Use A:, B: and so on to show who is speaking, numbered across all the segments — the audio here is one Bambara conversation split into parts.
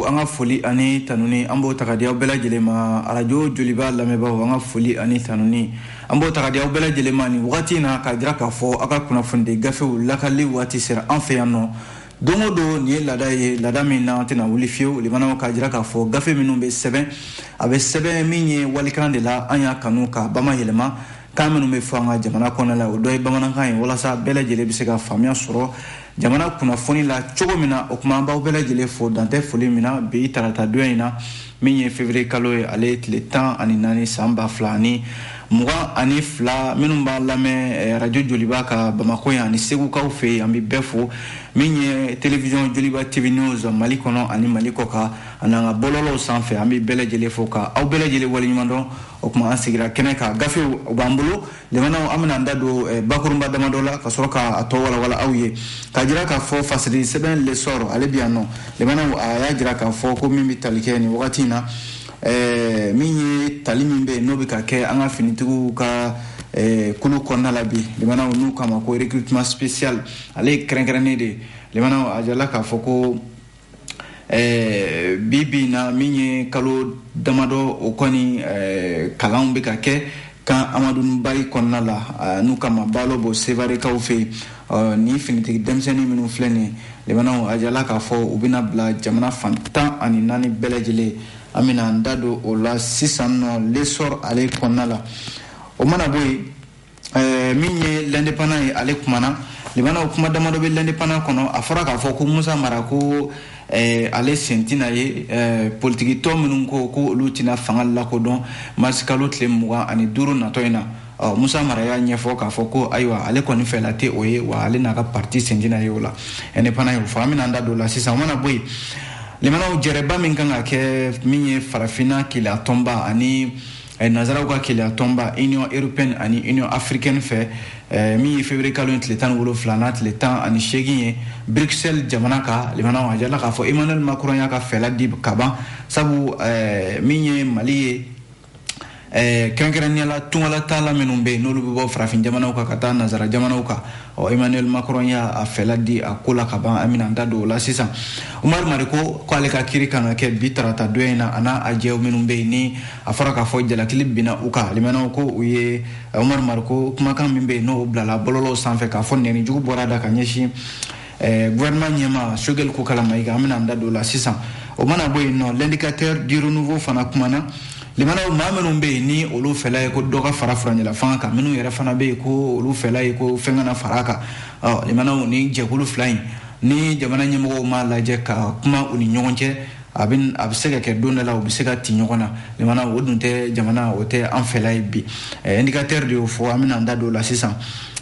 A: an ka foli ani tanuni an b'o ta ka di aw bɛɛ lajɛlen ma arajo joliba lamɛnbaaw an ka foli ani tanuni an b'o ta ka di aw bɛɛ lajɛlen ma nin wagati in na k'a jira k'a fɔ aw ka kunnafonidi gafew lakali waati sera an fɛ yan nɔ don o don nin ye laada ye laada min na an tɛna wuli fiyewu lamɛnnaw k'a jira k'a fɔ gafe minnu bɛ sɛbɛn a bɛ sɛbɛn min ye walikan de la an y'a kanu k'a bama yɛlɛma kan minnu bɛ fɔ an ka jamana kɔnɔ la o dɔ ye bamanankan ye walasa bɛɛ lajɛlen bɛ se ka faamuya sɔrɔ jamana kunnafoni la cogo min na o tuma an b'aw bɛɛ lajɛlen fo dan tɛ foli min na bi tarata don in na min ye fevrier kalo ye ale ye tile tan ani naani san ba fila ani mugan ani fila minnu b'a lamɛn eh, arajo joliba kan bamako yan ani segukaw fɛ yen an bɛ bɛɛ fo min ye telewisiyɔn joliba tv news mali kɔnɔ ani mali kɔkan an'an ka bɔlɔlɔw sanfɛ an bɛ bɛɛ lajɛlen fo ka aw bɛɛ lajɛlen waleɲumandɔn o tuma an sigira kɛnɛ kan gafew o b'an bolo Lamɛnnaw an bɛna an da don eh, bakurunba damadɔ la ka sɔrɔ k'a tɔ walawala aw ye k'a jira k'a fɔ fasiri sɛbɛn l'essor ale bi yan nɔ lamɛnnaw a y'a jira k'a fɔ ko min bɛ tali kɛ nin wagati in na eh, min ye tali min bɛ yen n'o bɛ ka kɛ an ka finitigiw ka eh, kulu kɔnɔna la bi lamɛnnaw n'u k'a ma ko recrutement spécial ale ye kɛrɛnkɛrɛnnen de ye lamɛnnaw a jirala k'a fɔ ko Eh, bi bi na min ye kalo damadɔ o kɔni eh, kalanw bɛ ka kɛ camp amadu bari kɔnɔna la eh, n'u k'a ma balobo sevarekaw fɛ yen eh, ni finitigi denmisɛnnin minnu filɛ nin ye lamɛnnaw a jirala k'a fɔ u bɛna bila jamana fan tan ani naani bɛɛ lajɛlen an bɛna an da don o la sisan nɔ l'essor ale kɔnɔna la o mana bɔ yen eh, min ye l'indépendant ye ale kumana lamɛnnaw kuma damadɔ bɛ l'indépendant kɔnɔ a fɔra k'a fɔ ko musa mara ko eh, ale sen tina ye eh, politikitɔn minnu ko ko olu tina fanga lakodɔn marisi kalo tile mugan ani duuru natɔ in na ɔ musa mara y'a ɲɛfɔ k'a fɔ ko ayiwa ale kɔni fɛla tɛ o ye wa ale n'a ka parti sen tina ye o la indépendant ye o fɔ an bɛna an da don o la sisan o mana bɔ yen lamɛnnaw jɛrɛba min kan ka kɛ min ye farafinna kelenya tɔnba ani Eh, nanzaraw ka kelenya tɔnba union européenne ani union africaine fɛ eh, min ye février kalo ye tile tan ni wolonfila n'a tile tan ani seegin ye bruxelles jamana kan lamɛnnaw a jirala k'a fɔ emmanuel macron y'a ka fɛla di ka ban sabu eh, min ye mali ye kɛrɛnkɛrɛnnenya la tungalataala minnu bɛ yen n'olu bɛ bɔ farafin jamanaw kan ka taa nanzara jamanaw kan ɔ emmanuel macron y'a a fɛla di a ko la ka ban an bɛna da don o la sisan umaru mariko ko ale ka kiri kan ka kɛ bi tarata don in na a n'a a jɛw minnu bɛ yen ni a fɔra k'a fɔ jalakili binna u kan lamɛnnaw ko u ye umaru mariko kumakan min bɛ yen n'o bilala bɔlɔlɔw sanfɛ k'a fɔ nɛni jugu bɔr'a da ka ɲɛsin eh, gouvernement ɲɛmaa sogɛli kokala mayiga an bɛna an da don o la sisan o mana bɔ yen nɔ l'indicateur du renouveau fana kumana limanaw maa minnu bɛ yen ni olu fɛla ye ko dɔ ka fara furancɛlafanga kan minnu yɛrɛ fana bɛ yen ko olu fɛla ye ko fɛn kana fara a kan ɔ limanaw ni jɛkulu fila in ni jamana ɲɛmɔgɔw m'a lajɛ ka kuma u ni ɲɔgɔn cɛ a bɛ a bɛ se ka kɛ don dɔ la u bɛ se ka ti ɲɔgɔn na limanaw o dun tɛ jamana o tɛ an fɛla ye bi ɛɛ indicateur de y'o fɔ an bɛna an da don o la sisan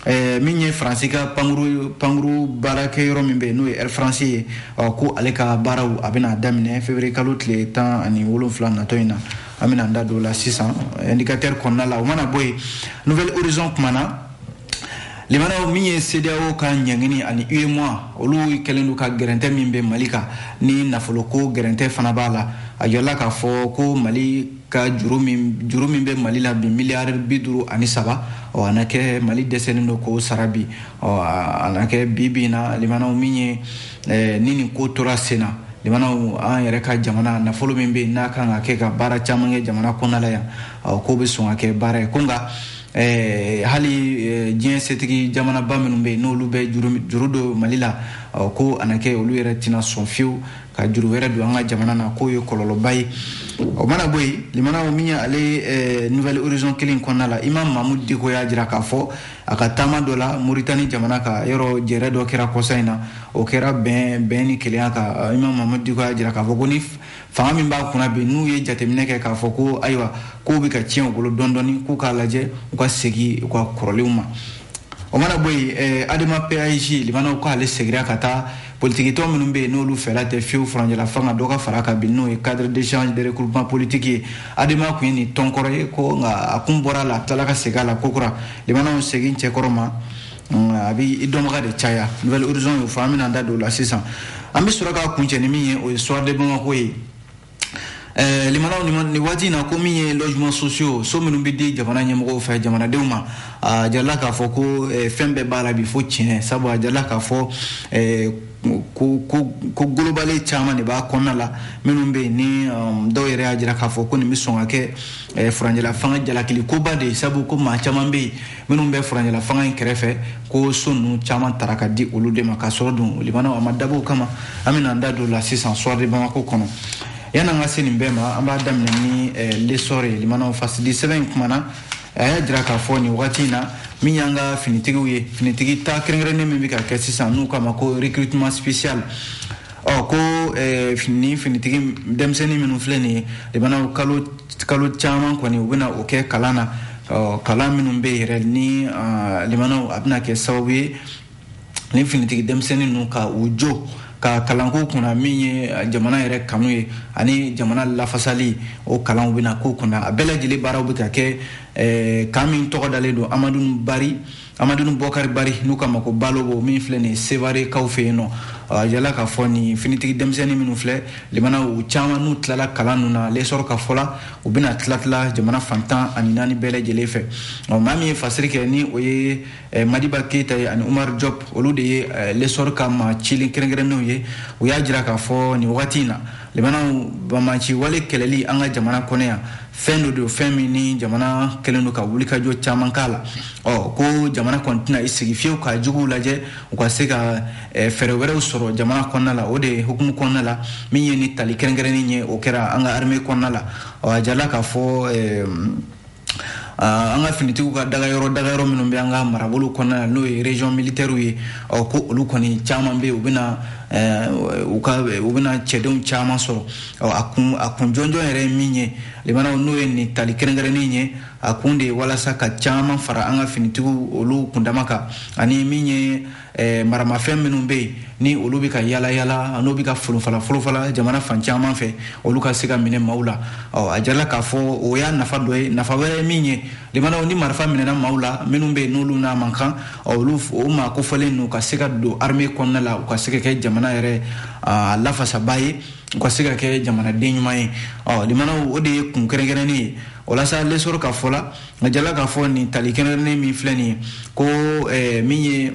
A: Eh, min ye faransi ka pankuru pankuru baarakɛyɔrɔ min bɛ yen n'o ye air france ye ɔ ko ale ka baaraw a bɛna daminɛ février kalo tile tan ani wolonfila natɔ in na an bɛna an da don o la sisan indicateur kɔnɔna la o mana bɔ yen nouvel horizon kumana limanaw min ye CEDEAO ka ɲangini ani UEMOA olu kɛlen don ka gɛrɛntɛ min bɛ Mali kan ni nafoloko gɛrɛntɛ fana b'a la a jirala k'a fɔ ko Mali ka juru min juru min bɛ mali la bi miliyari bi duuru ani saba ɔ a na kɛ mali dɛsɛlen don k'o sara bi ɔ a na kɛ bi bi na limanaw min ye eh, ni nin ko tora sen na limanaw an yɛrɛ ka jamana nafolo min bɛ yen n'a kan ka kɛ ka baara caman kɛ jamana kɔnɔna la yan ɔ k'o bɛ sɔn ka kɛ baara ye ko nka Eh, hali eh, diɲɛ setigi jamanaba minnu bɛ yen n'olu bɛ juru don mali la ko a na kɛ olu yɛrɛ tɛna sɔn fiyewu ka juru wɛrɛ don an ka jamana na k'o ye kɔlɔlɔba ye o mana bɔ yen limanaw min y'ale eh, nouvel horizon kelen kɔnɔna la imam mamudu diko y'a jira k'a fɔ a ka taama dɔ la moritani jamana ka yɔrɔ jɛrɛ dɔ kɛra kɔsa in na o kɛra bɛn bɛn ni kelenya kan imam mamudu diko y'a jira k'a fɔ ko ni fanga min b'an kunna bi n'u ye jateminɛ kɛ k'a fɔ ko ayiwa k'u bɛ ka tiɲɛ u bolo dɔɔni k'u k'a lajɛ u ka segin u ka kɔrɔlenw ma o mana bɔ yen eh, adema PASJ limanaw k'ale segira ka taa politikitɔn minnu bɛ yen n'olu fɛla tɛ fiyewu furancɛla fanga dɔ ka fara a kan bi n'o ye cadre d'échange de regroupement politique ye adema kun ye nin tɔnkɔrɔ ye ko nka a kun bɔra a la a tilala ka segin a la kokura limanaw segin cɛ kɔrɔ ma a bɛ i dɔnbaga de caya nouvel horizon y'o fɔ an bɛna an da don o la sisan an bɛ sɔrɔ k'a kuncɛ ni min ye o ye soir de bamako ye Eh, limanaw ni waati in na ko min ye logements sociaux so minnu bɛ di jamana ɲɛmɔgɔw fɛ jamanadenw ma a jirala k'a fɔ ko eh, fɛn bɛɛ b'a la bi fo tiɲɛ sabu a jirala k'a fɔ eh, ko ko ko golobale caman de b'a kɔnɔna la minnu bɛ yen ni um, dɔw yɛrɛ y'a jira k'a fɔ ko nin bɛ sɔn ka kɛ furancɛla fanga jalakili koba de ye sabu ko maa caman bɛ yen minnu bɛ furancɛla fanga in kɛrɛfɛ ko so ninnu caman tara ka di olu de ma ka sɔrɔ dun limanaw a ma dabɔ o kama an bɛna an da don o la sisan soir de bamako kɔnɔ yann'an ka se nin bɛɛ ma an b'a daminɛ ni eh, l'essor ye limanaw fasidi sɛbɛn in kumana a y'a jira k'a fɔ nin wagati in na min y'an ka finitigiw ye finitigi ta kɛrɛnkɛrɛnnen min bɛ ka kɛ sisan n'u k'a ma ko recrutement spécial ɔ ko ni finitigi denmisɛnnin minnu filɛ nin ye limana kalo kalo caman kɔni u bɛna o kɛ kalan na ɔ kalan minnu bɛ yɛrɛ ni limanaw a bɛna kɛ sababu ye ni finitigi denmisɛnnin ninnu ka u jo ka kalanko kunna min ye jamana yɛrɛ kanu ye ani jamana lafasali o kalanw bɛna k'o kunna a bɛɛ lajɛlen baaraw bɛ ka kɛ kan min tɔgɔ dalen don amadu bari amadun bɔkari bari n'u k'a ma ko balobo min filɛ nin sevare kaw fɛ yen nɔ a yala k'a fɔ nin finitigi denmisɛnnin minnu filɛ limana u caman n'u tilala kalan ninnu na lesɔrɔ ka fɔ la u bɛna tilatila jamana fan tan ani naani bɛɛ lajɛlen fɛ ɔ maa min ye fasiri kɛ ni o ye eh, madiba keyita ye ani umar diop olu de ye eh, lesɔrɔ ka maa cilen kɛrɛnkɛrɛnnenw ye u y'a jira k'a fɔ nin wagati in na limanaw banbaanciwale kɛlɛli an ka jamana kɔnɔ yan fɛn dɔ don fɛn min ni jamana kɛlen don ka wulikajɔ caman k'a la ɔ ko jamana kɔni tɛna i sigi fiyewu ka juguw lajɛ u ka se ka eh, fɛɛrɛ wɛrɛw sɔrɔ jamana kɔnɔna la o de hukumu kɔnɔna la min ye nin tali kɛrɛnkɛrɛnnen ye o kɛra an ka armée kɔnɔna la ɔ a jala k'a fɔ eh, an ka finitigiw ka dagayɔrɔ dagayɔrɔ minnu bɛ an ka marabolo kɔnɔna na n'o ye régions militaires ye ɔ ko olu kɔni caman bɛ u bɛna u ka u bɛna cɛdenw caman sɔrɔ ɔ a kun a kun jɔnjɔn yɛrɛ ye min ye limanaw n'o ye nin tali kɛrɛnkɛrɛnnen ye a kun de ye walasa ka caman fara an ka finitigiw olu kundama kan ani min ye eh, maramafɛn minnu bɛ yen ni olu bɛ ka yala yala n'o bɛ ka folofala folofala jamana fan caman fɛ olu ka se ka minɛ maaw la ɔ a jala k'a fɔ o y'a nafa dɔ ye nafa wɛrɛ ye min ye limanaw ni marifa minɛna maaw la minnu bɛ yen n'olu n'a man kan olu o maa kofɔlen ninnu ka se ka don armée kɔnɔna la u ka se ka kɛ jamana yɛrɛ lafasabaa ye u ka se ka kɛ jamanaden ɲuman ye ɔ limanaw o de ye kun kɛrɛnkɛrɛnnen ye o la sa lesɔrɔ ka fɔ la a jala k'a fɔ nin tali kɛrɛnkɛrɛnnen min filɛ nin ye ko eh, min ye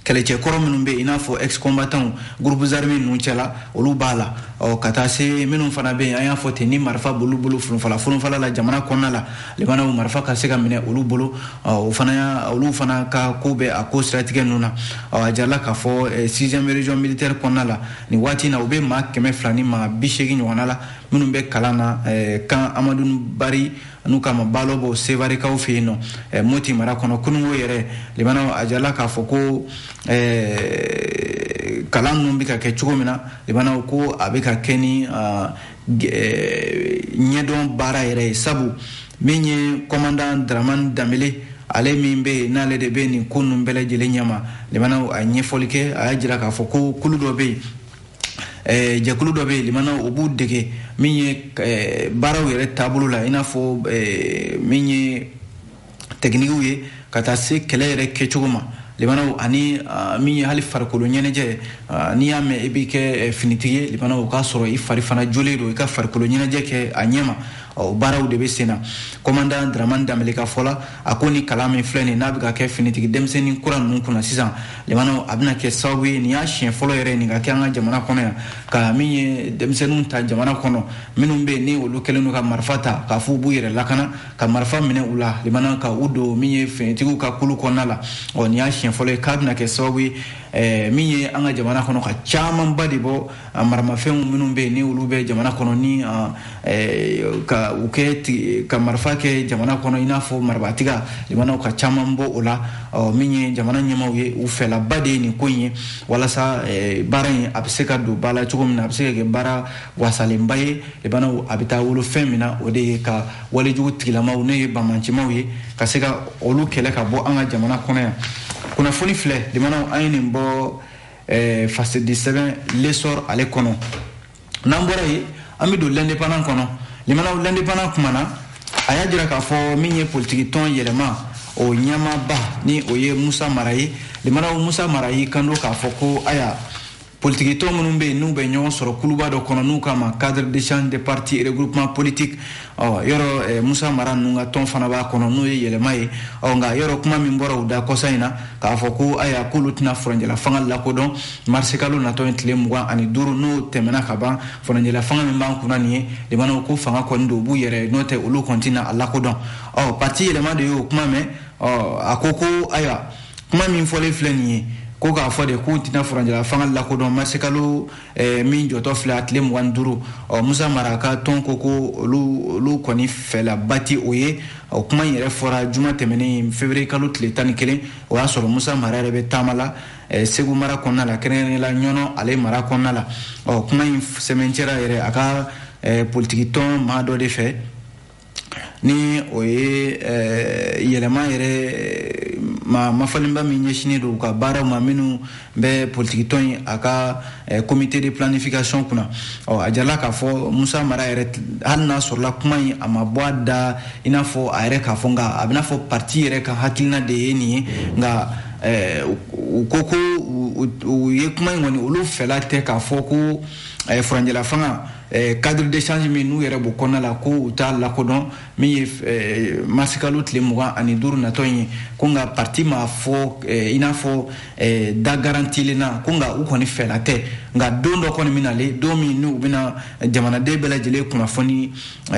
A: kɛlɛcɛ kɔrɔ minnu bɛ i n'a fɔ ex-combattants groupes armés ninnu cɛla olu b'a la ɔ ka taa se minnu fana bɛ yen an y'a fɔ ten ni marifa b'olu bolo funufala funufala la jamana kɔnɔna la limanaw marifa ka se ka minɛ olu bolo o fana y'a olu fana ka ko bɛ a ko siratigɛ ninnu na ɔ a jarala k'a fɔ eh, sixième région militaire kɔnɔna la nin waati in na u bɛ maa kɛmɛ fila ni maa bi seegin ɲɔgɔnna la minnu bɛ kalan na eh, kan amadou bari n'u k'a ma balobo sevare kaw fɛ yen nɔ eh, moti mara kɔnɔ kunungo yɛrɛ limana a jarala k'a fɔ ko eh, kalan ninnu bɛ ka kɛ cogo min na limana ko a bɛ ka kɛ ni ah, eh, ɲɛdɔn baara yɛrɛ ye sabu min ye kɔmandan dramani danbɛlɛ ale min bɛ yen n'ale de bɛ nin ko ninnu bɛɛ lajɛlen ɲɛma limana a ɲɛfɔli kɛ a y'a jira k'a fɔ ko kulu dɔ bɛ yen jɛkulu dɔ bɛ yen limanaw o b'u dege min ye baaraw yɛrɛ taabolo la i n'a fɔ min ye tɛkinikiw ye ka taa se kɛlɛ yɛrɛ kɛcogo ma limanaw ani min ye hali farikolo ɲɛnajɛ n'i y'a mɛn i b'i kɛ finitigi ye limanaw o k'a sɔrɔ i fari fana jɔlen don i ka farikolo ɲɛnajɛ kɛ a ɲɛma ɔ baaraw de bɛ sen na kɔmandan draman danbele ka fɔ la a ko ni kalan min filɛ nin n'a bɛ ka kɛ finitigi denmisɛnnin kura ninnu kunna sisan limanaw a bɛna kɛ sababu ye nin y'a siɲɛ fɔlɔ yɛrɛ nin ka kɛ an ka jamana kɔnɔ yan ka min ye denmisɛnninw ta jamana kɔnɔ minnu bɛ yen ni olu kɛlen don ka marifa ta k'a fɔ u b'u yɛrɛ lakana ka marifa minɛ u la limanaw ka u don min ye finitigiw ka kulu kɔnɔna la ɔ nin y'a siɲɛ fɔlɔ ye k'a bɛna kɛ sababu ye min ye an ka jamana kɔnɔ ka camanba de bɔ a maramafɛnw minnu bɛ yen ni olu bɛ jamana kɔnɔ ni ka u kɛ ka marifa kɛ jamana kɔnɔ i n'a fɔ marabatiga limanaw ka caman bɔ o la min ye jamana ɲɛmaaw ye u fɛlaba de ye nin ko in ye walasa baara in a bɛ se ka don ba la cogo min na a bɛ se ka kɛ baara wasalenba ye limanaw a bɛ taa wolo fɛn min na o de ye ka walejugu tigilamaw n'o ye bamancimaw ye ka se ka olu kɛlɛ ka bɔ an ka jamana kɔnɔ yan kunnafoni filɛ limanaw an ye nin bɔ eh, fasidi sɛbɛn l'essor ale kɔnɔ n'an bɔra yen an bɛ don l'indépendant kɔnɔ limanaw l'indépendant kuma na a y'a jira k'a fɔ min ye politikitɔn yɛlɛma o ɲɛmaaba ni o ye musa mara ye limanaw musa mara y'i kanto k'a fɔ ko aya politikitɔn minnu bɛ yen n'u bɛ ɲɔgɔn sɔrɔ kuluba dɔ kɔnɔ n'u k'a ma cadre d'échange des partis et regroupement politique ɔ yɔrɔ musa mara ninnu ka tɔn fana b'a kɔnɔ n'o ye yɛlɛma ye ɔ nka yɔrɔ kuma min bɔra u da kɔsa in na k'a fɔ ko ayiwa k'olu tɛna furancɛla fanga lakodɔn marisikalo natɔ ye tile mugan ani duuru n'o tɛmɛna ka ban furancɛla fanga min b'an kunna nin ye limanaw ko fanga kɔni don u b'u yɛrɛ n'o tɛ olu kɔni tɛna a lakodɔn ɔ parti yɛlɛma de y'o kuma mɛn ɔ a ko ko ayiwa kuma min fɔlen filɛ nin ye ko k'a fɔ de k'u tɛna furancɛla fanga lakodɔn marisikalo Eh, min jɔtɔ filɛ a tile mugan ni duuru ɔ musa mara ka tɔn ko ko olu kɔni fɛlaba tɛ o ye o kuma in yɛrɛ fɔra juma tɛmɛnen fevriye kalo tile tan ni kelen o y'a sɔrɔ musa mara yɛrɛ bɛ taama la eh, segu mara kɔnɔna la kɛrɛnkɛrɛnnenya la ɲɔnɔ ale mara kɔnɔna la ɔ kuma in sɛmɛncɛra yɛrɛ a ka eh, politikitɔn maa dɔ de fɛ ni o ye eh, yɛlɛma yɛrɛ eh, ma mafalenba min ɲɛsinen don u ka baaraw ma minnu bɛ politikitɔn in a ka eh, comité de planification kunna ɔ a jirala k'a fɔ musa mara yɛrɛ hali n'a sɔrɔla kuma in a ma bɔ a da i n'a fɔ a yɛrɛ k'a fɔ nka a bɛna fɔ parti yɛrɛ ka hakilina de ye nin ye nka u ko ko u ye kuma in kɔni olu fɛla tɛ k'a fɔ ko furanjɛla fanga Eh, cadre d'échange min n'u yɛrɛ b'o kɔnɔna la ko u t'a lakodɔn min ye eh, marisikalo tile mugan ani duuru natɔ ye ko nka parti ma fɔ eh, i n'a fɔ da garantilen na ko nka u kɔni fɛla tɛ nka don dɔ kɔni bɛna le don min n'u bɛna jamanaden bɛɛ lajɛlen kunnafoni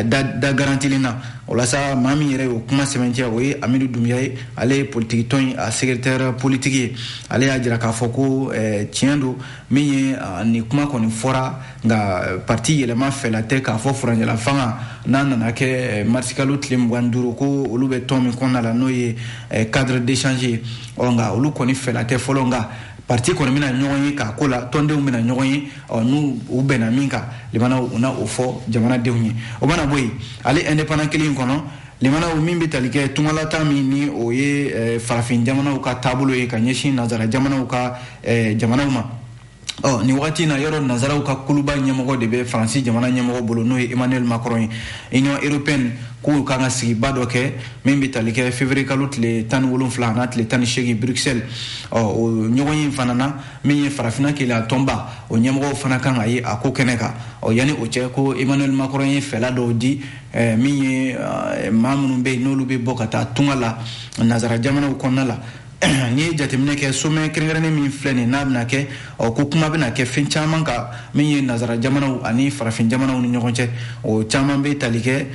A: da garantilen na o la sa maa min yɛrɛ y'o kuma sɛbɛntiya o ye amidu dunbiya ye ale ye politikitɔn ye a secrétaire politique ye ale y'a jira k'a fɔ ko tiɲɛ don min ye nin kuma kɔni fɔra nka parti yɛlɛma fɛla tɛ k'a fɔ furanjɛla fanga n'a nana kɛ eh, marisikalo tile mugan duuru ko olu bɛ tɔn min kɔnɔna la n'o ye eh, cadre d'échange ye ɔ nka olu kɔni fɛla tɛ fɔlɔ nka parti kɔni bɛna ɲɔgɔn ye k'a ko la tɔndenw bɛna ɲɔgɔn ye ɔ n'u u bɛnna min kan limanaw u na o fɔ jamanadenw ye o mana bɔ yen hali indépendant kelen in kɔnɔ limanaw min bɛ tali kɛ tungalataa min ni o ye eh, farafin jamanaw ka taabolo ye ka ɲɛsin nanzara jamanaw ka jamanaw ma ɔ nin wagati in na yɔrɔ nazaraw ka kuluba ɲɛmɔgɔ de bɛ faransi jamana ɲɛmɔgɔ bolo n'o ye emmanuel macron ye union européenne k'u kan ka sigiba dɔ kɛ min bɛ tali kɛ février kalo tile tan ni wolonfila an'a tile tan ni seegin bruxelles ɔ o ɲɔgɔnye fana na min ye farafina kelenya tɔnba o ɲɛmɔgɔw fana kan ka ye a ko kɛnɛ kan ɔ yanni o cɛ ko emmanuel macron ye fɛla dɔw di eh, min ye eh, maa minnu bɛ yen n'olu bɛ bɔ ka taa tunga la nazara jamanaw kɔnɔna la n'i ye jateminɛ kɛ sommet kɛrɛnkɛrɛnnen min filɛ nin n'a bɛna kɛ ɔ ko kuma bɛna kɛ fɛn caman kan min ye nazara jamanaw ani farafin jamanaw ni ɲɔgɔn cɛ o caman bɛ tali kɛ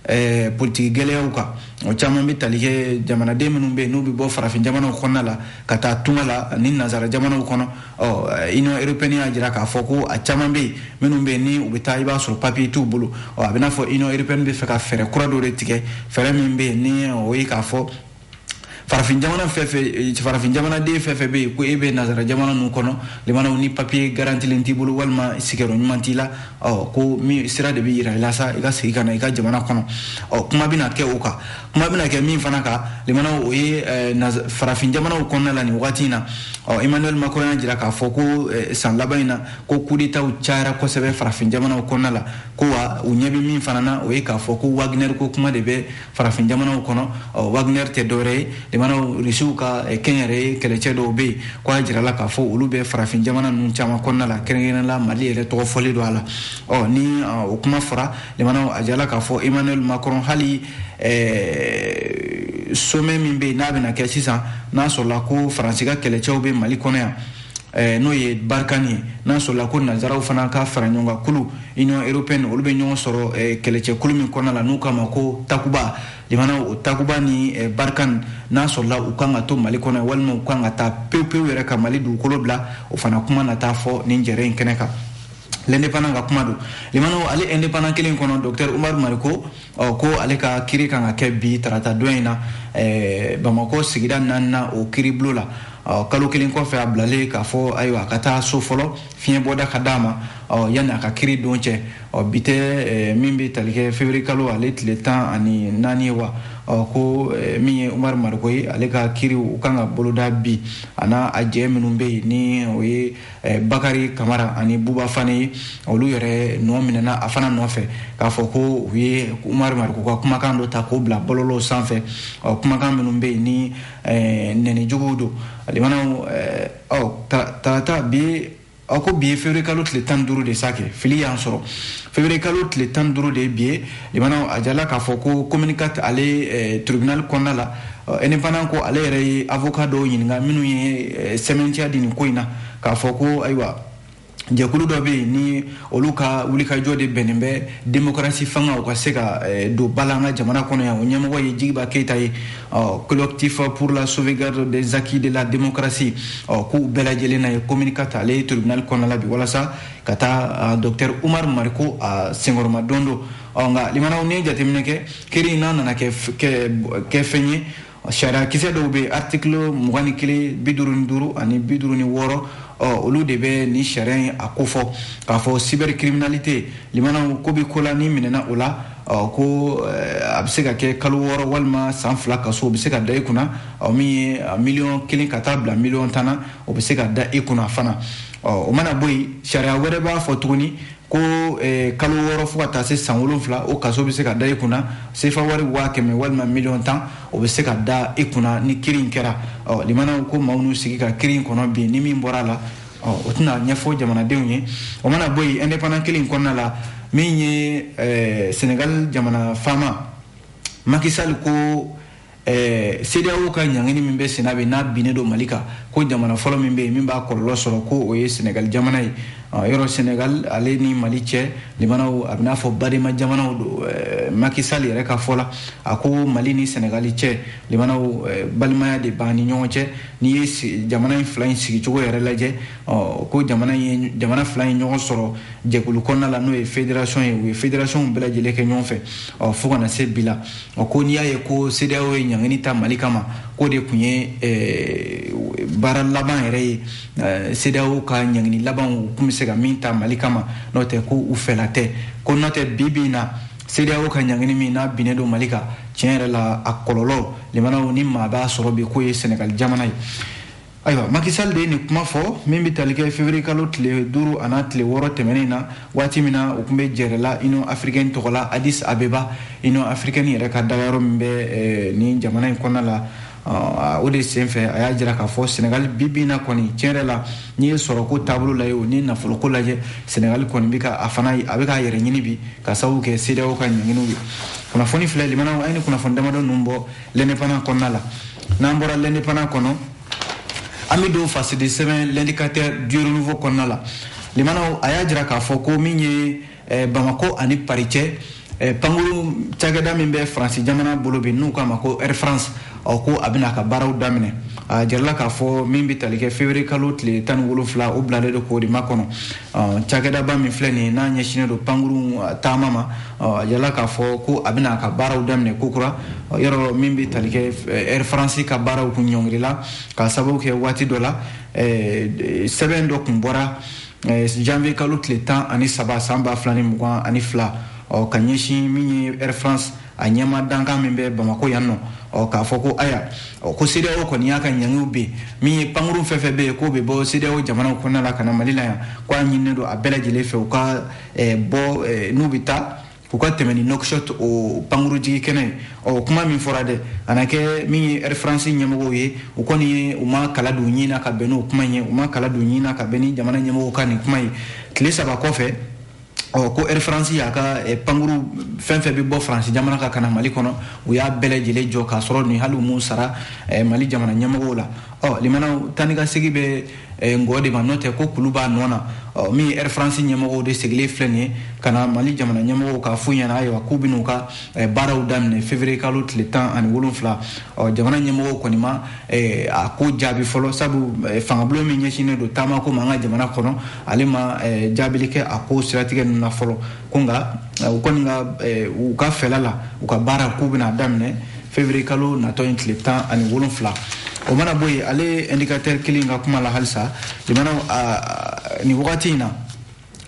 A: eh, politiki gɛlɛyaw kan o caman bɛ tali kɛ jamanaden minnu bɛ yen n'u bɛ bɔ farafin jamanaw kɔnɔna la ka taa tunga la ni nazara jamanaw kɔnɔ ɔ union européenne y'a jira k'a fɔ ko a caman bɛ yen minnu bɛ yen ni u bɛ taa i b'a sɔrɔ papiye t'u bolo ɔ a bɛ n'a fɔ union européenne b'a fɛ ka fɛɛrɛ kura dɔ de tigɛ fɛɛrɛ min bɛ yen ni o ye k'a fɔ farafin jamana fɛn fɛn eh, farafin jamanaden fɛn fɛn bɛ yen ko e bɛ nazara jamana ninnu kɔnɔ limanaw ni papiye garantilen t'i bolo walima sigiyɔrɔ ɲuman t'i la ɔ ko min sira de bɛ yira i la sa i ka segin ka na i ka jamana kɔnɔ ɔ kuma bɛna kɛ o kan kuma bɛna kɛ min fana kan limanaw o ye eh, farafin jamanaw kɔnɔna la nin wagati in na ɔ emmanuel macron y'a jira k'a fɔ ko eh, san laban in na ko kudetaw cayara kosɛbɛ farafin jamanaw kɔnɔna la ko wa u ɲɛ bɛ min fana na o ye k'a fɔ ko wagner ko kuma de bɛ farafin jamanaw kɔnɔ wagner tɛ dɔwɛrɛ ye limanaw risiw ka eh, kɛnyɛrɛye kɛlɛcɛ dɔw bɛ yen ko a jirala k'a fɔ olu bɛ farafin jamana ninnu caman kɔnɔna la kɛrɛnkɛrɛnla mali yɛrɛ tɔgɔ fɔlen don a la ɔ ni o kuma fɔra limanaw a jirala k'a fɔ emmanuel macron hali eh, sommet min bɛ yen n'a bɛna kɛ sisan n'a sɔrɔla ko faransi ka kɛlɛcɛw bɛ mali kɔnɔ yan Eh, n'o ye barkhane ye n'a sɔrɔla ko nanzaraw fana ka fara ɲɔgɔn kan kulu union européenne olu bɛ ɲɔgɔn sɔrɔ eh, kɛlɛcɛkulu min kɔnɔna la n'u k'a ma ko takuba limanaw o takuba ni eh, barkhane n'a sɔrɔla u kan ka to mali kɔnɔ walima u kan ka taa pewu pewu yɛrɛ ka mali dugukolo bila o fana kuma na taa fɔ nin jɛrɛ in kɛnɛ kan l'indépendant ka kuma don limanaw ale indépendant kelen kɔnɔ docteur umaru mariko ɔ ko ale ka kiri kan ka kɛ bi tarata don in na eh, bamakɔ sigida naanina o kiribulon la ɔ kalo kelen kɔfɛ a bilalen k'a fɔ ayiwa a ka taa so fɔlɔ fiɲɛ bɔda ka d'a ma ɔ yanni a ka kiri don cɛ ɔ bi tɛ eh, min bɛ tali kɛ février kalo ale tile tan ani naani ye wa ɔ ko eh, min ye umaru mariko ye ale ka kiri u kan ka boloda bi a n'a a jɛ minnu bɛ yen ni o ye eh, bakari kamara ani buba fane ye olu yɛrɛ nɔ minɛna a fana nɔfɛ k'a fɔ ko u ye umaru mariko ka kumakan dɔ ta k'o bila bɔlɔlɔw sanfɛ ɔ kumakan minnu bɛ yen ni eh, nɛni juguw don limanaw eh, ɔ tarata bi a ko bi ye février kalo tile tan ni duuru de sa kɛ fili y'an sɔrɔ février kalo tile tan ni duuru de ye bi ye limanaw a jirala k'a fɔ ko commune quatre ale eh, tribunal kɔnɔna la indépendant ko ale yɛrɛ ye avocat dɔw ɲininka minnu ye sɛmɛntiya di nin ko in na k'a fɔ ko ayiwa jɛkulu dɔ bɛ yen ni olu ka wulikajɔ de bɛnnen bɛ demokarasi fanga u ka se ka eh, don ba la an ka jamana kɔnɔ yan o ɲɛmɔgɔ ye jigiba keyita ye ɔ collectif pour la sauvegarde des acquis de la démocratie ɔ k'u bɛɛ lajɛlen na ye commune quatre ale ye tribunal kɔnɔna la bi walasa ka taa docteur umar mariko a senkɔrɔmadondon ɔ nka limanaw n'i ye jateminɛ kɛ kiri in n'a nana kɛ fɛn ye sariyakisɛ dɔw bɛ aritikilu mugan ni kelen bi duuru ni duuru ani bi duuru ni wɔɔrɔ olu de bɛ nin sariya in a kofɔ k'a fɔ cybercriminalité limanaw ko bɛ ko la n'i minɛna o la ko a bɛ se ka kɛ kalo wɔɔrɔ walima san fila kaso o bɛ se ka da i kunna min ye miliyɔn kelen ka taa bila miliyɔn tan na o bɛ se ka da i kunna fana o mana bɔ yen sariya wɛrɛ b'a fɔ tuguni ko eh, kalo wɔɔrɔ fo ka taa se san wolonfila o kaso bɛ se ka da i kunna sefa wari waa kɛmɛ walima miliyɔn tan o bɛ se ka da i kunna ni kiri in kɛra ɔ limanaw ko maaw n'u sigi ka kiri in kɔnɔ bi ni min bɔra a la ɔ o tɛna ɲɛfɔ jamanadenw ye o mana bɔ yen indépendant kelen in kɔnɔna la min ye eh, senegal jamana faama Macky Sall ko ɛɛ CEDEAO ka ɲangini min bɛ senna bi n'a binnen don Mali kan ko jamana fɔlɔ min bɛ yen min b'a kɔlɔlɔ sɔrɔ ko o ye Senegal jamana ye yɔrɔ Senegal ale ni Mali cɛ limanaw a b'i n'a fɔ badenma jamanaw don Macky Sall yɛrɛ ka fɔ la a ko Mali ni Senegal cɛ limanaw balimaya de b'an ni ɲɔgɔn cɛ n'i ye jamana in fila in sigicogo yɛrɛ lajɛ ɔ ko jamana ye jamana fila in ɲɔgɔn sɔrɔ jɛkulu kɔnɔna la n'o ye fédération ye u ye fédération bɛɛ lajɛlen kɛ ɲɔgɔn fɛ ɔ fo ka na se bi la ɔ ko n'i y'a ye ko CEDEAO ye ɲangini ta Mali kama k'o de tun ye eh, baara laban yɛrɛ ye eh, CEDEAO ka ɲangini laban u tun bɛ se ka min ta Mali kama n'o tɛ ko u fɛla tɛ ko n'o tɛ bi bi in na CEDEAO ka ɲangini min n'a binnen don Mali kan tiɲɛ yɛrɛ la a kɔlɔlɔ limanaw ni maa b'a sɔrɔ bi k'o ye Senegal jamana ye ayiwa Macky Sall de ye nin kuma fɔ min bɛ tali kɛ février kalo tile duuru an'a tile wɔɔrɔ tɛmɛnen na waati min na u tun bɛ jɛrɛ la union africaine tɔgɔ la Addis Abeba union africaine yɛrɛ ka dagayɔrɔ min bɛ eh, nin jamana in kɔnɔna la ah, o de senfɛ a y'a jira k'a fɔ senegali bi bi in na kɔni tiɲɛ yɛrɛ la n'i ye sɔrɔko taabolo lajɛ o ni nafoloko lajɛ senegali kɔni bɛ ka a fana a bɛ k'a yɛrɛ ɲini bi k'a sababu kɛ CEDEAO ka ɲanginiw ye kunnafoni filɛ limanaw a ye nin kunnafoni damadɔ ninnu bɔ l'indépendant kɔnɔna la n'an bɔra l'indépendant kɔnɔ an bɛ don fasidi sɛbɛn l'indicateur du renouveau kɔnɔna la limanaw a y'a jira k'a fɔ ko min ye eh, bamako ani paris cɛ eh, pankuru cakɛda min bɛ faransi jamana bolo bi n'u k'a ma ko air france ɔ ko a bɛna a ka baaraw daminɛ a jirala k'a fɔ min bɛ tali kɛ février kalo tile tan ni wolonfila o bilalen don k'o de makɔnɔ cakɛdaba min filɛ nin n'a ɲɛsinnen don pankuru taama ma a jirala k'a fɔ ko a bɛna a ka baaraw daminɛ kokura yɔrɔ min bɛ tali kɛ Air France ka baaraw kun ɲɔngirila k'a sababu kɛ waati dɔ la sɛbɛn dɔ kun bɔra janvier kalo tile tan ani saba san ba fila ni mugan ani fila ka ɲɛsin min ye Air France a ɲɛmaa dankan min bɛ bamako yan nɔ ɔ k'a fɔ ko aya ɔ ko CEDEAO kɔni y'a ka ɲangiw bin min ye pankuru fɛn fɛn bɛ yen k'o bɛ bɔ CEDEAO jamanaw kɔnɔna la ka na Mali la yan ko a ɲininen don a bɛɛ lajɛlen fɛ u ka eh, bɔ eh, n'u bɛ taa u ka tɛmɛ ni Nouakchott o pankuru jigin kɛnɛ ye ɔ kuma min fɔra dɛ a na kɛ min ye Air France ɲɛmɔgɔw ye u kɔni ye u ma kala don ɲin na ka bɛn n'o kuma in ye u ma kala don ɲin na ka bɛn ni jamana ɲɛmɔgɔw ka nin kuma ye tile saba kɔfɛ ɔ ko air france y'a ka eh, pankuru fɛn fɛn bɛ bɔ faransi jamana kan ka na mali kɔnɔ u y'a bɛɛ lajɛlen jɔ k'a sɔrɔ nin hali u m'u sara eh, mali jamana ɲɛmɔgɔw la ɔ limanaw taa ni ka segin bɛ eh, ngɔn de ma n'o tɛ ko kulu b'a nɔ na ɔ min ye air france ɲɛmɔgɔw de sigilen filɛ nin ye ka na mali jamana ɲɛmɔgɔw k'a f'u ɲɛna ayiwa k'u bɛn'u ka baaraw daminɛ février kalo tile tan ani wolonfila ɔ jamana ɲɛmɔgɔw kɔni ma Eh, a ko jaabi fɔlɔ sabu eh, fangabulon min ɲɛsinnen don taamako ma an ka jamana kɔnɔ ale ma eh, jaabili kɛ a ko siratigɛ ninnu na fɔlɔ ko nka u kɔni ka u ka fɛla la u ka baara k'u bɛna daminɛ février kalo natɔ in tile tan ani wolonfila o mana bɔ yen ale indicateur kelen ka kuma la halisa jamana nin wagati in na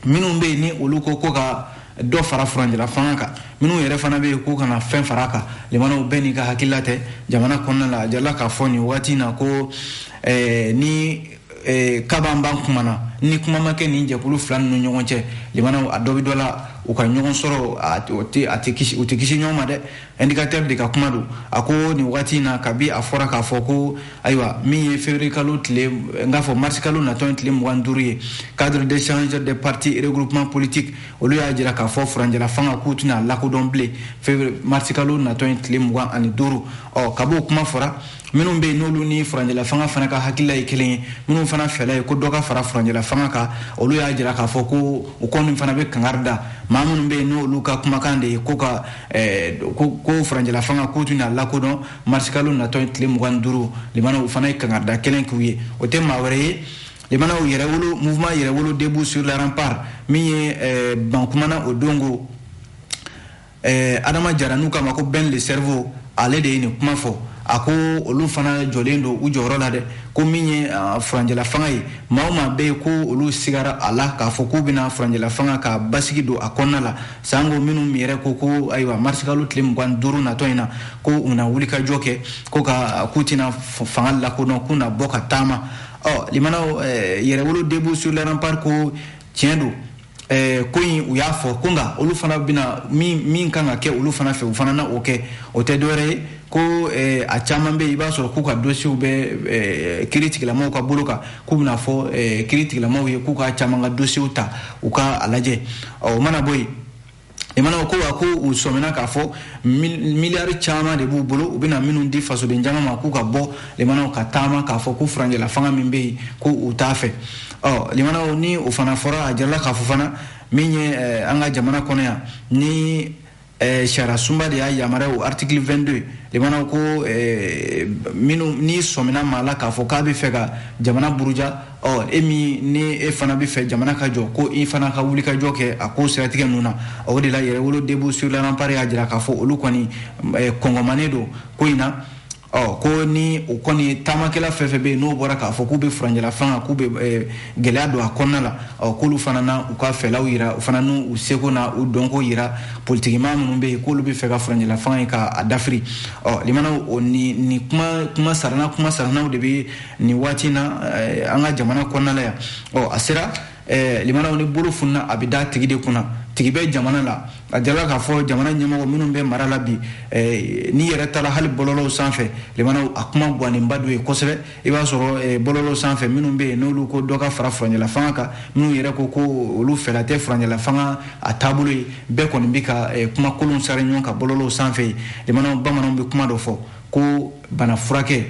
A: minnu bɛ yen ni olu ko k'u ka dɔ fara furancɛla fanga kan minnu yɛrɛ fana bɛ yen k'u kana fɛn fara a kan limanaw bɛɛ n'i ka hakilila tɛ jamana kɔnɔna la a jirala k'a fɔ nin waati in na ko eh, ni eh, kaban b'an kuma na ni kuma ma kɛ nin jɛkulu fila ninnu ɲɔgɔn cɛ limanaw a dɔ bɛ dɔ la u ka ɲɔgɔn sɔrɔ u tɛ kisi ɲɔgɔn ma dɛ indicateur de ka kuma don a ko nin waati in na kabi a fɔra k'a fɔ ko ayiwa min ye février kalo tile n k'a fɔ mars kalo natɔ ye tile mugan duuru ye cadre d'échange des partis et regroupements politiques olu y'a jira k'a fɔ furanjɛla fanga k'u tɛna lakodɔn bilen février mars kalo natɔ ye tile mugan ani duuru ɔ kab'o kuma fɔra minnu bɛ yen n'olu ni furanjɛla fanga fana ka hakilila ye kelen ye minnu fana fɛla ye ko dɔ ka fara furanjɛla fanga kan olu y'a jira k'a fɔ ko u kɔni fana bɛ kangari da maa minnu bɛ yen n'olu ka kumakan de ye ko ka Eh, ko ko furanjɛla fanga k'u tɛna lakodɔn marisikalo natɔ ye tile mugan ni duuru limanaw u fana ye kangari da kelen k'u ye o tɛ maa wɛrɛ ye limanaw yɛrɛwolo mouvement yɛrɛwolo debout sur les remparts min ye eh, bankumana o don ko eh, adama jara n'u k'a ma ko ben le cerveau ale de ye nin kuma fɔ a ko olu fana jɔlen don u jɔyɔrɔ la dɛ ko min ye ah, furanjɛla fanga ye maa o maa bɛ yen ko olu sigara a la k'a fɔ k'u bɛna furanjɛla fanga ka basigi don a kɔnɔna la sanko minnu yɛrɛ ko ko ayiwa marisikalo tile mugan duuru natɔ in na ko u na wulikajɔ kɛ ko ka k'u tɛna fanga lakodɔn k'u na bɔ ka taama ɔ limanaw eh, yɛrɛwolo debout sur les remparts ko tiɲɛ don eh, ko in u y'a fɔ ko nka olu fana bɛna min min kan ka kɛ olu fana fɛ u fana na o kɛ o tɛ dɔwɛrɛ ye ko eh, a caman bɛ yen i b'a sɔrɔ k'u ka dossiers bɛ eh, kiiri tigilamaw ka bolo kan k'u bɛna fɔ eh, kiiri tigilamaw ye k'u ka caman ka dossiers ta u ka a lajɛ ɔ o mana bɔ yen limanaw ko wa ko u sɔmina k'a fɔ miliyari caman de b'u bolo u bɛna minnu di fasoden jama ma k'u ka bɔ limanaw ka taama k'a fɔ ko furanjɛla fanga min bɛ yen ko u t'a fɛ ɔ limanaw ni o fana fɔra a jirala k'a fɔ fana min ye eh, an ka jamana kɔnɔ yan ni Eh, sariya sunba de y'a yamaruya o article 22 limanaw ko eh, minnu n'i sɔmina maa la k'a fɔ k'a bɛ fɛ ka jamana buruja ɔ e min ni e fana bɛ fɛ jamana ka jɔ ko i fana ka wuli ka jɔ kɛ a ko siratigɛ ninnu na o de la yɛrɛwolo debout sur les remparts y'a jira k'a fɔ olu kɔni eh, kɔngɔmanen don ko in na ɔ ko ni o kɔni taamakɛla fɛn fɛn bɛ yen n'o bɔra k'a fɔ k'u bɛ furanjɛla fanga k'u bɛ eh, gɛlɛya don a kɔnɔna la ɔ k'olu fana na u ka fɛlaw yira u fana n'u seko na u dɔnko yira politikimaa minnu bɛ yen k'olu bɛ fɛ ka furanjɛla fanga ye k'a dafiri ɔ limanaw o ni ni kuma kuma sarana kuma saranaw de bɛ nin waati in na eh, an ka jamana kɔnɔna la yan ɔ a sera eh, limanaw ni bolo funna a bɛ da tigi de kunna tigi bɛ jamana la a jirala k'a fɔ jamana ɲɛmɔgɔ minnu bɛ mara la bi eh, n'i yɛrɛ taara hali bɔlɔlɔw sanfɛ limanaw a kuma gwanenba don ye kosɛbɛ i b'a sɔrɔ eh, bɔlɔlɔw sanfɛ minnu bɛ yen n'olu ko dɔ ka fara furanjɛla fanga kan minnu yɛrɛ ko ko olu fɛla tɛ furanjɛla fanga a taabolo ye bɛɛ kɔni bɛ ka eh, kuma kolonw sari ɲɔgɔn kan bɔlɔlɔw sanfɛ limanaw bamananw bɛ kuma dɔ fɔ ko bana furakɛ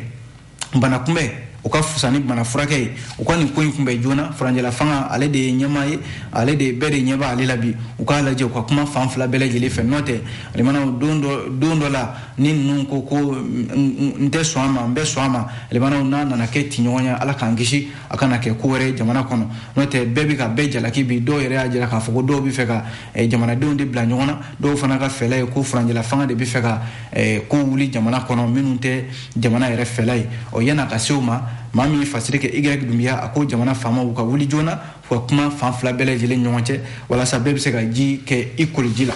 A: bana kunbɛn ka fusa ni bana furakɛ ye u ka nin ko in kunbɛn joona furancɛla fanga ale de ye ɲɛmaa ye ale de bɛɛ de ɲɛ bɛ ale la bi u k'a lajɛ u ka kuma fan fila bɛɛ lajɛlen fɛ n'o tɛ limanaw don dɔ don dɔ la ni ninnu ko ko n tɛ sɔn a ma n bɛ sɔn a ma limanaw n'a nana kɛ tiɲɔgɔn ye ala k'an kisi a kana kɛ ko wɛrɛ jamana kɔnɔ n'o tɛ bɛɛ bɛ ka bɛɛ jalaki bi dɔw yɛrɛ y'a jira k'a fɔ ko dɔw bɛ fɛ ka eh, jamanadenw de bila ɲɔgɔn na dɔw fana ka fɛla ye ko furanjɛla fanga de bɛ fɛ ka eh, kow wuli jamana kɔnɔ minnu tɛ jamana yɛrɛ fɛla ye ɔ yan'a ka se o ma maa min ye fasiri kɛ igɛrɛki dunbiya a ko jamana faamaw ka wuli joona u ka kuma fan fila bɛɛ lajɛlen ɲɔgɔn cɛ walasa bɛɛ bɛ se ka ji kɛ i koliji la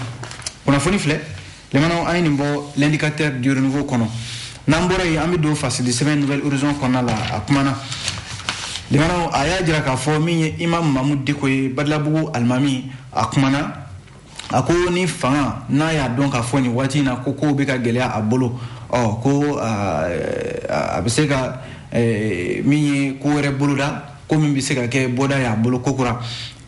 A: kunnafoni filɛ limanaw an ye nin bɔ l'indicateur du renouveau kɔnɔ n'an bɔra yen an bɛ don fasili sɛbɛn nouvel horizon kɔnɔna la a kumana limanaw a y'a jira k'a fɔ min ye imam mamudu diko ye badalabugu alimami a kumana a ko ni fanga n'a y'a dɔn k'a fɔ nin waati in na ko kow bɛ ka gɛlɛya a bolo ɔ ko a bɛ se ka min ye ko wɛrɛ boloda ko min bɛ se ka kɛ bɔda y'a bolo kokura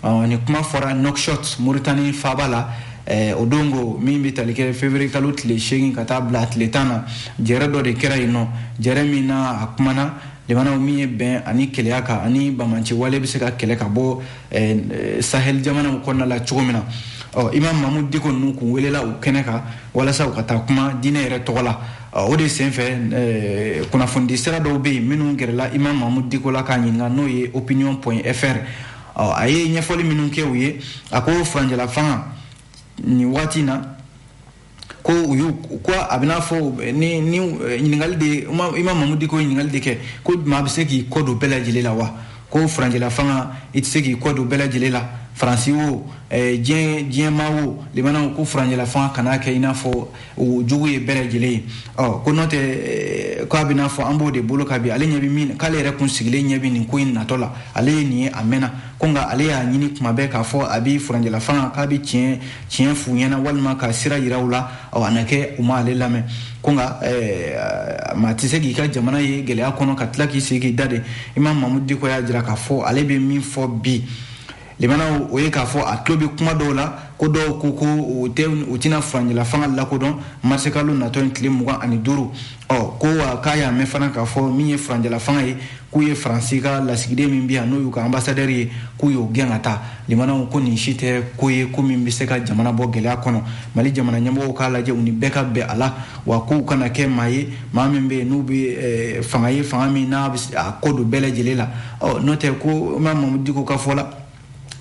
A: ɔ nin kuma fɔra nouakchott moritani faaba la Eh, o don ko min bɛ tali kɛ février kalo tile seegin ka taa bila tile tan na jɛrɛ dɔ de kɛra yen ɔ jɛrɛ min na a kumana limanaw min ye bɛn ani kelenya kan ani banbaanci wale bɛ se ka kɛlɛ ka bɔ eh, sahel jamanaw kɔnɔna la cogo min na ɔ imam mamudu diko ninnu kun welela o kɛnɛ kan walasa u ka taa kuma diinɛ yɛrɛ tɔgɔ la o de senfɛ eh, kunnafonidi sira dɔw bɛ yen minnu gɛrɛla imam mamudu diko la k'a ɲininka n'o ye opinion point fr ɔ a ye ɲɛfɔli minnu kɛ u ye a ko furancɛla fanga nin waati in na ko u y'u ko a bɛ n'a fɔ ni ni eh, ɲininkali de imam mamudu diko ɲininkali de kɛ ko maa bɛ se k'i kɔ don bɛɛ lajɛlen la wa ko furancɛla fanga i tɛ se k'i kɔ don bɛɛ lajɛlen la faransi o eh, diɲɛ diɲɛmaa o limanaw ko furancɛla fanga kan'a kɛ i n'a fɔ o jugu ye bɛɛ lajɛlen ye ɔ ko n'o tɛ eh, k'a bɛ n'a fɔ an b'o de bolo kan bi ale ɲɛ bɛ min k'ale yɛrɛ kun sigilen ɲɛ bɛ nin ko in natɔ la ale ye nin ye a mɛnna ko nka ale y'a ɲini kuma bɛɛ k'a fɔ a bɛ furanjɛla fanga k'a bɛ tiɲɛ tiɲɛ f'u ɲɛna walima ka sira yira u la ɔ a na kɛ u ma ale lamɛn ko nka eh, maa tɛ se k'i ka jamana ye gɛlɛya kɔnɔ ka tila k'i sigi k'i da de imam mamudu diko y'a jira k'a fɔ ale bɛ min fɔ bi Limanaw o ye k'a fɔ a tulo bɛ kuma dɔw la ko dɔw ko ko u tɛna furancɛla fanga lakodɔn marisikalo natɔ in tile mugan ani duuru ɔ ko wa k'a y'a mɛn fana k'a fɔ min ye furancɛla fanga ye k'u ye faransi ka lasigiden min bi yan n'o y'u ka ambassadeur ye k'u y'o gɛn ka taa limanaw ko nin si tɛ ko ye ko min bɛ se ka jamana bɔ gɛlɛya kɔnɔ mali jamana ɲɛmɔgɔw k'a lajɛ u ni bɛɛ ka bɛn a la wa k'u kana kɛ maa ye maa min bɛ yen n'u bɛ fanga ye fanga min n'a bɛ a kɔ don bɛɛ lajɛlen la ɔ n'o tɛ ko imam mamudu diko ka fɔ la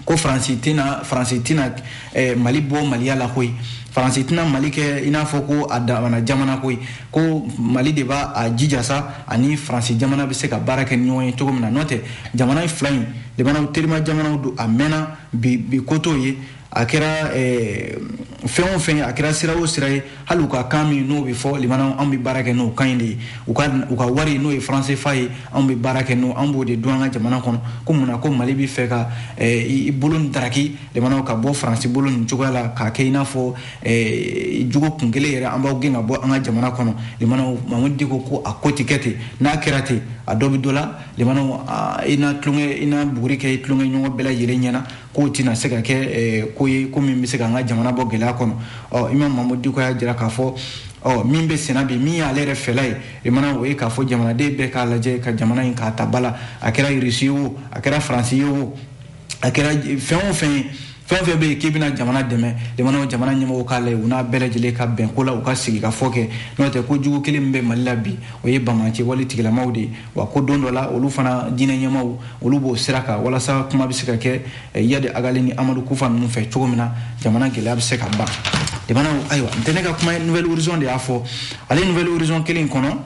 A: ko faransi tɛna faransi tɛna eh, mali bɔ maliya la koyi faransi tɛna mali kɛ i n'a fɔ ko a damana jamana koyi ko mali de b'a a jija sa ani faransi jamana bɛ se ka baara kɛ ni ɲɔgɔn ye cogo min na n'o tɛ jamana fila in limanaw terima jamanaw don a mɛnna bi ko t'o ye a kɛra eh, fɛn o fɛn a kɛra sira o sira ye hali u ka kan min n'o bɛ fɔ limanaw anw bɛ baara kɛ n'o kan in de ye u ka u ka wari n'o ye franc cfa ye anw bɛ baara kɛ n'o anw b'o de dun an ka jamana kɔnɔ ko mun na ko mali bɛ fɛ ka eh, i bolo nin daraki limanaw ka bɔ faransi bolo nin cogoya la k'a kɛ i n'a fɔ eh, dɔgɔkun kelen yɛrɛ an b'aw gɛn ka bɔ an ka jamana kɔnɔ limanaw mamadu diko ko a ko tɛ kɛ ten n'a kɛra ten a dɔ bɛ dɔ la limanaw i na tulonkɛ i na buguri kɛ i tulonkɛɲɔgɔn bɛɛ lajɛlen ɲɛ na k'o tɛna se ka kɛ eh, ko ye ko min bɛ se ka an ka jamana bɔ gɛlɛya kɔnɔ ɔ imam mahamadu diko y'a jira k'a fɔ ɔ min bɛ senna bi min y'ale yɛrɛ fɛla ye limanaw o ye k'a fɔ jamanaden bɛɛ k'a lajɛ ka jamana in k'a ta ba la a kɛra irisi ye o a kɛra faransi ye o a kɛra fɛn o fɛn ye fɛn o fɛn bɛ yen k'i bɛna jamana dɛmɛ limanaw jamana ɲɛmɔgɔw k'a lajɛ u n'a bɛɛ lajɛlen ka bɛn ko la u ka sigikafɔ kɛ n'o tɛ ko jugu kelen min bɛ mali la bi o ye banbaanci wale tigilamaw de ye wa ko don dɔ la olu fana diinɛ ɲɛmaw olu b'o sira kan walasa kuma bɛ se ka kɛ eh, iyadi agali ni amadu kufa ninnu fɛ cogo min na jamana gɛlɛya bɛ se ka ban limanaw ayiwa n tɛ ne ka kuma ye nouvel horizon de y'a fɔ ale nouvel horizon kelen in kɔnɔ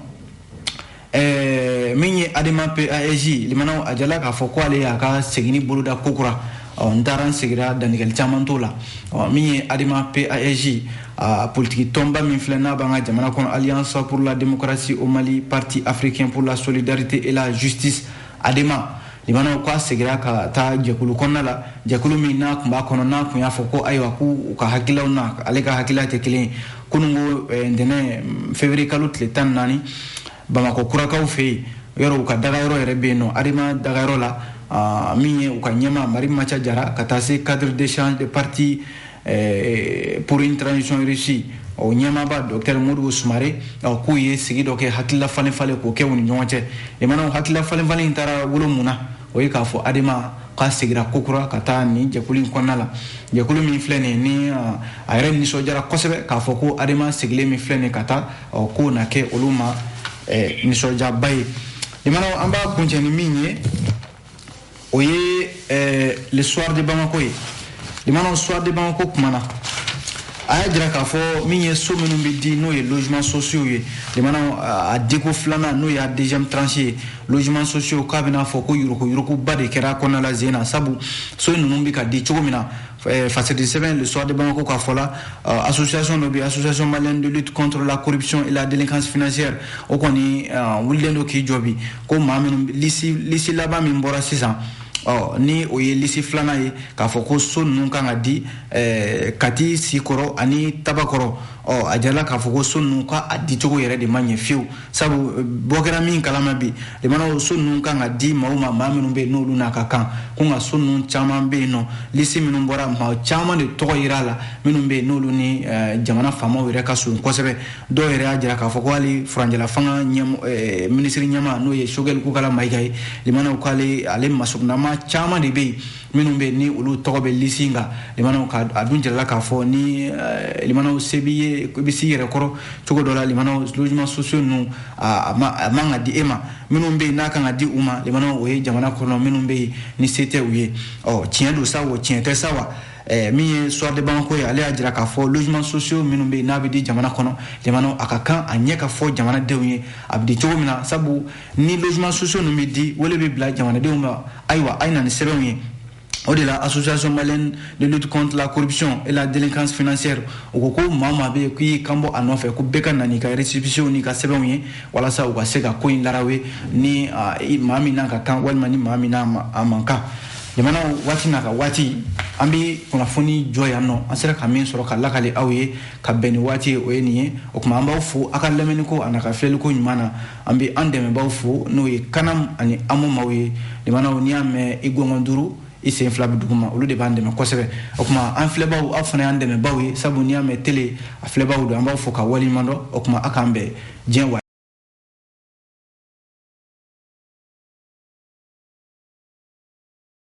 A: eh, min ye adema pasj limanaw a jirala k'a fɔ ko ale y'a ka seginni boloda kokura ɔ n taara n segira dantigɛli caman t'o la ɔ min ye adema PASJ a politiki tɔnba min filɛ n'a b'an ka jamana kɔnɔ alliance pour la démocratie au mali parti africain pour la solidarité et la justice adema limanaw k'a segira ka taa jɛkulu kɔnɔna la jɛkulu min n'a kun b'a kɔnɔ n'a kun y'a fɔ ko ayiwa k'u ka hakililaw n'ale ka hakilila tɛ kelen ye kunungo eh, ntɛnɛn février kalo tile tan naani bamakɔkurakaw fɛ yen yɔrɔ u ka dagayɔrɔ yɛrɛ bɛ yen nɔ adema dagayɔrɔ la ah, min ye u ka ɲɛma marimanca jara ka taa se cadre d'échange des partis eh, pour une transition réussie o ɲɛmaaba dɔktɛr modibo sumare k'u ye sigi dɔ kɛ hakilila falen falen k'o kɛ u ni ɲɔgɔn cɛ limanaw hakilila falen falen in taara wolo mun na o ye k'a fɔ adema k'a segira kokura ka taa nin jɛkulu in kɔnɔna la jɛkulu min filɛ nin ni a yɛrɛ nisɔndiyara kosɛbɛ k'a fɔ ko adema segilen min filɛ nin ka taa ɔ k'o na kɛ olu ma eh, nisɔndiyaba ye limanaw an b'a kuncɛ ni min ye o ye eh, le soir de bamako ye limanaw soir de bamako kumana a y'a jira k'a fɔ min ye so minnu bɛ di n'o ye logements sociaux ye limanaw a diko filanan n'o y'a deuxième tranche ye logements sociaux k'a bɛna fɔ ko yuruguyuruguba de kɛra a kɔnɔna la zen na sabu so ninnu bɛ ka di cogo min na Eh, fasɛdi sɛbɛn le soir de bamako ka fɔ la uh, association dɔ bɛ association malienne de lutte contre la corruption et la délinquance financière o kɔni uh, wulilen don k'i jɔ bi ko maa minnu lisi lisi laban min bɔra sisan ɔ ni o ye lisi filanan ye k'a fɔ ko so ninnu kan ka di eh, kati sikɔrɔ ani tabakɔrɔ ɔ a jirala k'a fɔ ko so ninnu ka a dicogo yɛrɛ de ma ɲɛ fiyewu sabu eh, bɔ kɛra min kalama bi limanaw so ninnu kan ka di maaw ma maa minnu bɛ yen n'olu n'a ka kan ko nka so ninnu caman bɛ yen nɔ lisi minnu bɔra maa caman de tɔgɔ yera a la minnu bɛ yen n'olu ni eh, jamana faamaw yɛrɛ ka surun kosɛbɛ dɔw yɛrɛ y'a jira k'a fɔ ko hali furancɛla fanga eh, minisiri ɲɛmaa n'o ye Choguel Kokalla Maïga ye limanaw k'ale ale masurunnamaa caman de bɛ yen minnu bɛ ni olu tɔgɔ bɛ lisi kan limanaw ka a dun jirala k'a fɔ ni eh, limanaw se b'i ye i bɛ s'i yɛrɛ kɔrɔ cogo dɔ la limanaw logements sociaux ninnu a man ka di e ma minnu bɛ yen n'a kan ka di u ma limanaw o ye jamana kɔnɔ minnu bɛ yen ni se tɛ u ye ɔ tiɲɛ don sa o tiɲɛ tɛ sa wa eh, min ye soir de bamako ye ale y'a jira k'a fɔ logements sociaux minnu bɛ yen n'a bɛ di jamana kɔnɔ limanaw a ka kan a ɲɛ ka fɔ jamanadenw ye a bɛ di cogo min na sabu ni logements sociaux ninnu bɛ di wele bɛ bila jamanadenw ma ayiwa a ye na ni sɛbɛnw ye o de la association malienne de lutte contre la corruption et la délinquance financière o ko ko maa o maa bɛ yen k'i kan bɔ a nɔfɛ ko bɛɛ ka na n'i ka récépissés n'i ka sɛbɛnw ye walasa u ka se ka ko in larawe ni maa min n'a ka kan walima ni maa min n'a a man kan jamana waati n'a ka waati an bɛ kunnafoni jɔ yan nɔ an sera ka min sɔrɔ ka lakali aw ye ka bɛn ni waati ye o ye nin ye o tuma an b'aw fo aw ka lamɛnniko an'a ka filɛliko ɲuman na an bɛ an dɛmɛbaaw fo n'o ye CANAM ani AMO maw ye limanaw n'i y'a mɛn i gɔngɔn duuru i sen fila bɛ duguma olu de b'an dɛmɛ kosɛbɛ o tuma an filɛbaaw aw fana y'an dɛmɛbaaw ye sabu n'i y'a mɛn tele a filɛbaaw don an b'aw fo ka waleɲuman dɔn o tuma a k'an bɛn diɲɛ wa